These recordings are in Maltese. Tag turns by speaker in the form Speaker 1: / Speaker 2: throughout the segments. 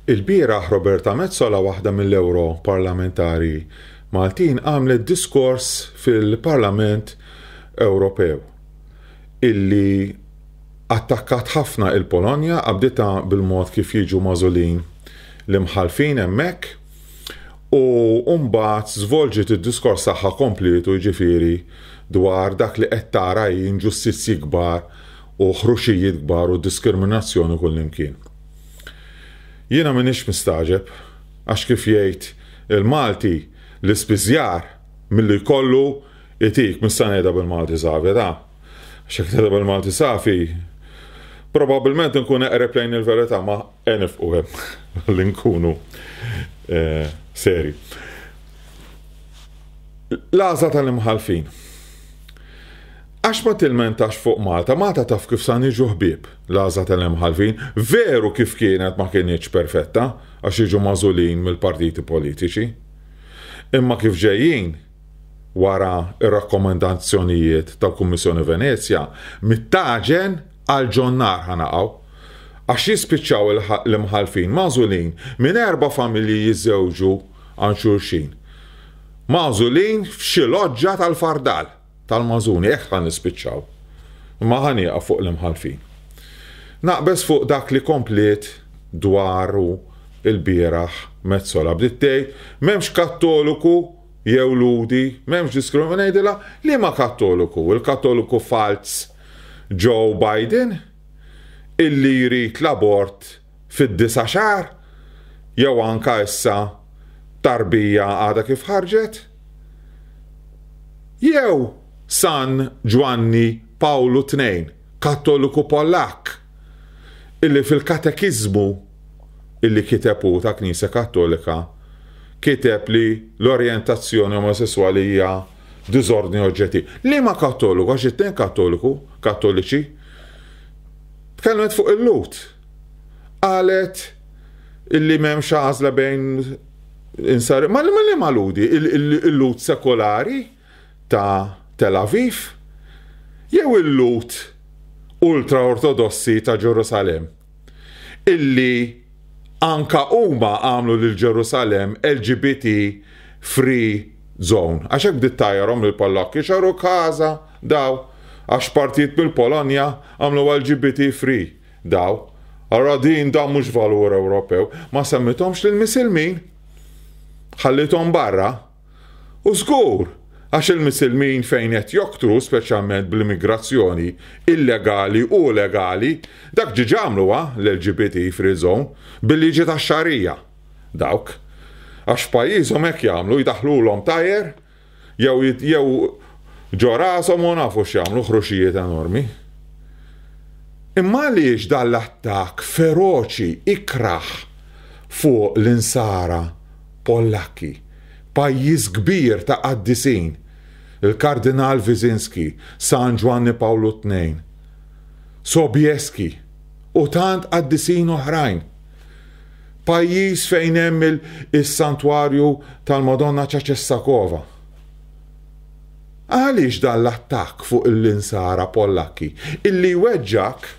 Speaker 1: Il-bieraħ Roberta Metsola waħda mill-Ewro Parlamentari Maltin għamlet diskors fil-Parlament Ewropew illi attakkat ħafna il-Polonja qabditha bil-mod kif jiġu magħżulin l-imħallfin hemmhekk U mbagħad żvolġiet id-diskors tagħha komplietu jiġifieri dwar dak li qed tara hi inġustizzji kbar u ħruxijiet kbar u diskriminazzjoni kullimkien. Jiena m'iniex mistagħġeb għax kif jgħid il-Malti l-ispiżjar milli jkollu jtik, mista' ngħidha bil-Malti safi ta'. Għax jekk ngħidha bil-Malti safi probabbilment inkun eqreb lejn il-verità ma Eh nifqu hemm li nkunu serji. L-għażla tal-imħallfin. Għax ma tilmentax fuq Malta, Malta taf kif sa niġu ħbieb, l-għażla tal-imħallfin, veru kif kienet ma kinitx perfetta għax jiġu magħżulin mill-partiti politiċi. Imma kif ġejjin, wara r-rakkomandazzjonijiet tal-Kummissjoni Venezja, mit-tagħġen, Għal ġon-nar ħa naqgħu. Għax jispiċċaw l-imħallfin magħżulin minn erba' familji jiżżewġu għand xulxin. Magħżulin f'xi loġġa tal-fardal, tal-magħżuni, hekk ħa nispiċċaw. Imma ħa nieqaf fuq l-imħallfin. Naqbeż fuq dak li kompliet dwaru lbieraħ Metsola. Bdiet tgħid, M'hemmx Kattoliku jew Lhudi, m'hemmx diskriminazzjoni. Ngħidilha, liema Kattoliku? Il-Kattoliku falz Joe Biden, illi jrid l-abort fid-disa' xahar, jew anke issa tarbija għadha kif ħarġet? Jew San Ġwanni Pawlu Tnejn, Kattoliku Pollakk, illi fil-Katekiżmu, illi kiteb hu tal-Knisja Kattolika, kiteb li l-orjentazzjoni omosesswali hija diżordni oġġettiv. Liema Kattoliku, għax it-tnejn Kattoliku, Kattoliċi, tkellmet fuq il-Lut. Qalet illi m'hemmx għażla bejn insar. Ma li ma ludi, il-Lut sekolari ta' Tel Aviv, jew il-Lut ultra-ortodossi ta' Ġerusalem. illi anka huma għamlu lil Ġerusalemm LGBT free zone. Għax hekk bdiet tgħajjarhom lill-Pollakki, xaru kasa daw, għax partijiet mill-Polonja għamlu LGBT free daw. Allura din dan mhux valur Ewropew. Ma semmithomx lill-Misilmin. Ħalliethom barra. U żgur, għax il-Misilmin fejn qed joktru, speċjalment bl-immigrazzjoni illegali u legali, dak ġiġ għamluha, l-LGBT free zone, bil-liġi tax-Xagħrija. Dawk. Għax f'pajjiżhom hekk jagħmlu, jdaħħlulhom tajer, jew jew ġo rashom u nafu x'jagħmlu, ħruxijiet enormi. Imma għaliex dan l-attakk feroċi, ikrah fuq l-insara Pollakki, pajjiż kbir ta' qaddisin, il-Kardinal Wyszynski, San Ġwanni Pawlu Tnejn, Sobieski u tant qaddisin oħrajn. Pajjiż fejn hemm is-Santwarju tal-Madonna ta' Cessakova. Għaliex dan l-attakk fuq l-Insara Pollakki? Illi jweġġgħek.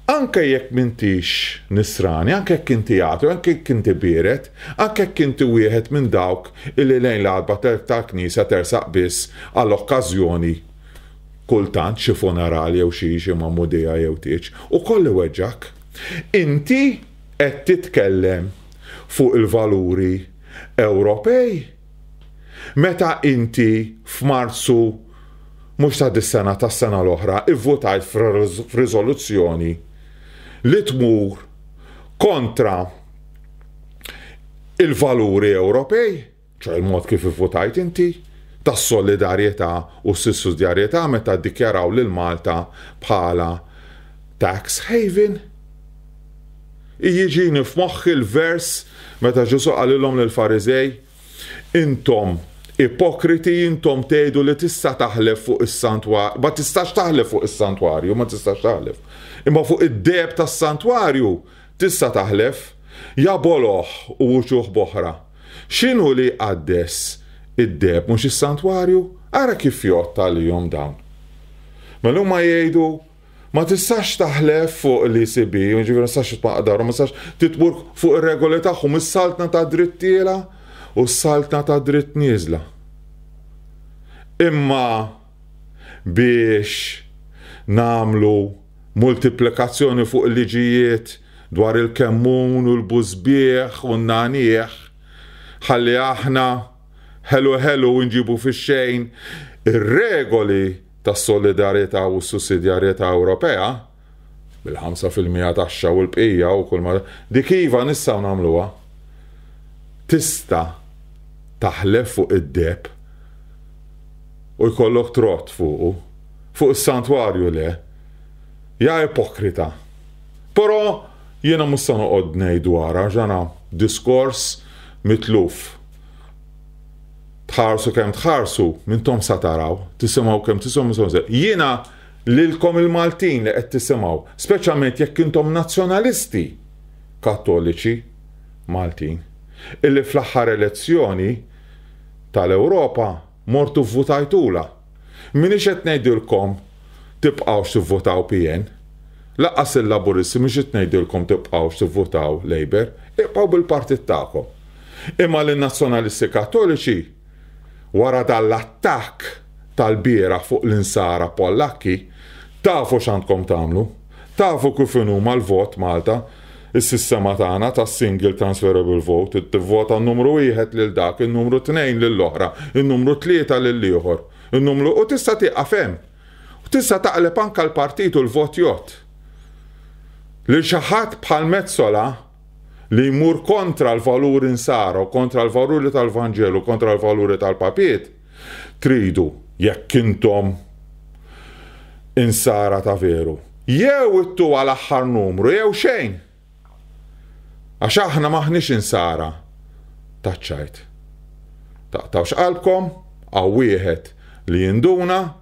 Speaker 1: Anke jekk m'intix Nisrani, anke jekk inti ateu, anke jekk inti biered, anke jekk inti wieħed minn dawk illi lejn l-għalba tal-Knisja tersaq biss għal okkażjoni, kultant xi funeral jew xi xi magħmudija jew tieġ, ukoll iweġġgħek. Inti qed titkellem fuq il-valuri Ewropej. Meta inti f'Marzu mhux ta' dis-sena tas-sena l-oħra ivvutajt f'riżoluzzjoni li tmur kontra il-valuri Ewropej, ċoe il-mod kif ivvutajt inti, tas-solidarjetà u s-sissidjarjetà meta ddikjaraw lil Malta bħala tax haven. Jiġini f'moħħi l-vers meta Ġesù qalilhom lill-Fariżej, Intom ipokriti, intom tgħidu li tista' taħlef fuq is-santwarju, ma tistax taħlef fuq is-santwarju, ma tistax taħlef. Imma fuq id-deb tas-santwarju tista' taħlef, ja boloh u uċuħ boħra. X'inhu li jqaddes id-deb mhux is-santwarju? Ara kif jgħodd għalihom dawn. Mela huma jgħidu Ma tistax taħlef fuq l-ECB, jiġifieri ma tistax titwaqqaq darhom, ma tistax titmur fuq ir-regoli tagħhom, is-saltna ta' dritt tiela u s-saltna ta' dritt nieżla. Imma biex nagħmlu multiplikazzjoni fuq il-liġijiet dwar il-kemmun u l-bużbieħ u n-nagħniegħ, ħalli aħna Ħelu ħelu nġibu fix-xejn ir-regoli tas-solidarjetà u s-sussidjarjetà Ewropea, bil-ħamsa fil-mija taxxa u l-bqija u kull ma Dik iva nistgħu nagħmluha. Tista' taħlef fuq id-deheb u jkollok trott fuqu, fuq is-santwarju le. Ja ipokrita. Però jiena mhux se noqgħod ngħid dwarha għax dan hu diskors mitluf. Tħarsu kemm tħarsu, mintom sa taraw, tisimgħu kemm tisimgħu somse. Jiena lilkom il-Maltin li qed tisimgħu, speċjalment jekk intom nazzjonalisti Kattoliċi Maltin, illi fl-aħħar elezzjoni tal-Ewropa Mortu vvutajtulha. M'iniex qed ngħidilkom tibqgħux tivvutaw PN. Lanqas il-Laburisti mhux qed ngħidilkom tibqgħux tivvutaw Labour. Ibqgħu bil-partit tagħkom. Imma lin-Nazzjonalisti Kattoliċi, wara dan l-attakk tal-bieraħ fuq l-Insara Pollakki, tafu x'għandkom tagħmlu. Tafu kif inhuma l-vot Malta. Is-sistema tagħna ta' single transferable vote tivvota n-numru wieħed lil dak, in-numru tnejn lill-oħra, in-numru tlieta lill-ieħor, in-numru u tista' tieqaf hemm. U tista' taqleb anke l-partit u l-vot jgħodd lil xi ħadd bħal Metsola li jmur kontra l-valuri Nsara u kontra l-valuri tal-Vanġelu u kontra l-valuri tal-Papiet, Tridu, jekk intom Insara ta' veru, jew ittuha l-aħħar numru jew xejn! Għax aħna m'aħniex Insara taċ-ċajt. Taqtgħux qalbkom, hawn wieħed li jinduna.